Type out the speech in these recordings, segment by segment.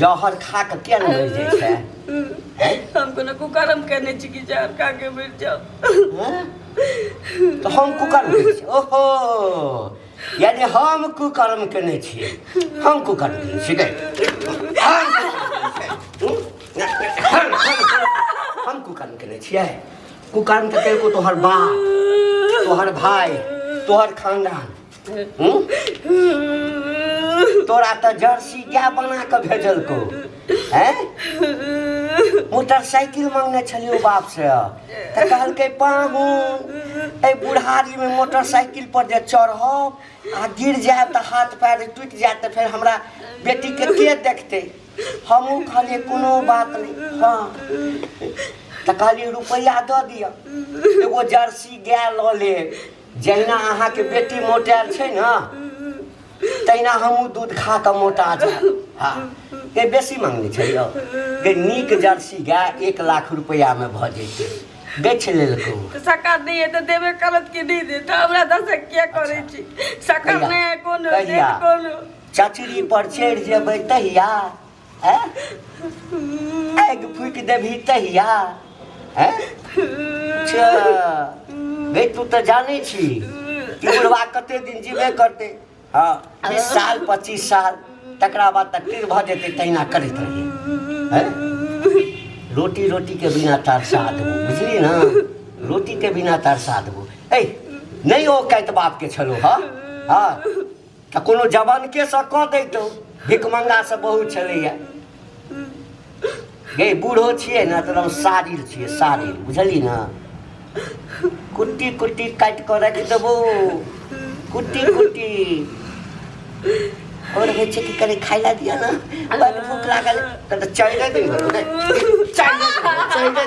जहर खा के किया न मर जाय छै हैं? हम कोनो कुकरम केने छी कि जहर खा के मर जाओ हैं? तो हम कुकर्म केने छी ओहो यानी हम कुकर्म केने छी हम कुकर्म केने छी गए हम हम कुकर्म केने छियै कुकर्म तऽ केलको तोहर बाप तोहर भाय तोहर खानदान हूँ? तोरा तऽ जर्सी गाय बना कऽ भेजलकौ हैं मोटरसाइकिल मांगने छलियौ बाप से तऽ कहलकै पाहुन एहि बुढ़ारी मे मोटरसाइकिल पर जे चढ़ब आ गिर जायब तऽ हाथ पैर टूटि जायत तऽ फेर हमरा बेटी के के देखतै हमहूँ कहलियै कोनो बात नहि हँ तऽ कहलियै रुपैआ दऽ दिअ एगो जर्सी गाय लऽ लेब जहिना अहाँके बेटी मोटायल छै ने तहिना हमहूँ दूध खा कऽ मोटा जायब हँ के बेसी मङ्गने छै यौ के नीक जर्सी गाय एक लाख रुपैआमे भऽ जैतै बेच लेलको तो सकार नहीं है तो देवे करत की नहीं दे तो हमरा दस क्या करे छी सकार कहिया? नहीं है कौन कहिया? कौन चचरी पर चढ़ि जेबै तहिया हैं पैग फूक देबही तहिया हैं अच्छा गई तू तो जाने छी कि बुढ़वा कते दिन जीबे करते हाँ बीस साल पच्चीस साल तकरा बाद तक तिर भऽ जेतै तहिना करैत रहियै हैं रोटी रोटी के बिना तरसा देबो बुझली ना रोटी के बिना तरसा देबो ऐ नहीं ओ कैत बाप के छलो हाँ हाँ तऽ कोनो जवानके सँ कऽ दैतहुँ भिकमंगा से बहुत छलैया गई बूढ़ो छियै ने तऽ सारिल छियै सारिल बुझली ने कुट्टी कुट्टी काटि कऽ राखि देबो कुट्टी कुट्टी और होइ छै कि कनि खाइ लए दिअ ने बड़ भूख लागल तऽ चलि दे चलि दे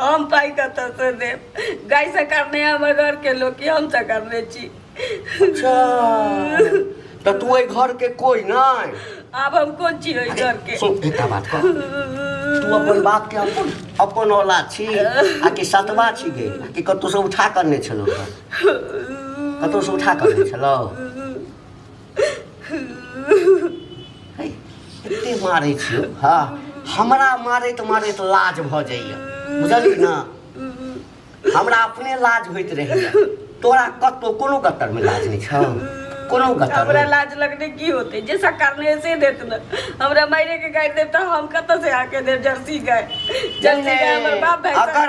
हम पाइ कतऽसँ देब गायसँ करने हमर घरके लोक कि हम तऽ करने छी अच्छा तऽ तू एहि घरके कोइ नहि आब हम कोन छी ओहि घरके सुन एकटा बात कह तू अपन बापके अपन अपन औलाद छी आ कि सतवा छी गे आ कि कतहुसँ उठा करने छलौ कतहुसँ उठा करने छलौ एते मारै छियो हाँ हमरा मारैत मारैत लाज भऽ जाइए बुझलियै ने हमरा अपने लाज होइत रहैए तोरा कतहु कोनो गतरमे लाज नहि छौ कोनो गतरमे हमरा लाज लगने की होते जे सरकार ने से देत न हमरा मायरे के गाय देता हम कत से आके दे जर्सी गाय जर्सी गाय हमर बाप भाई अगर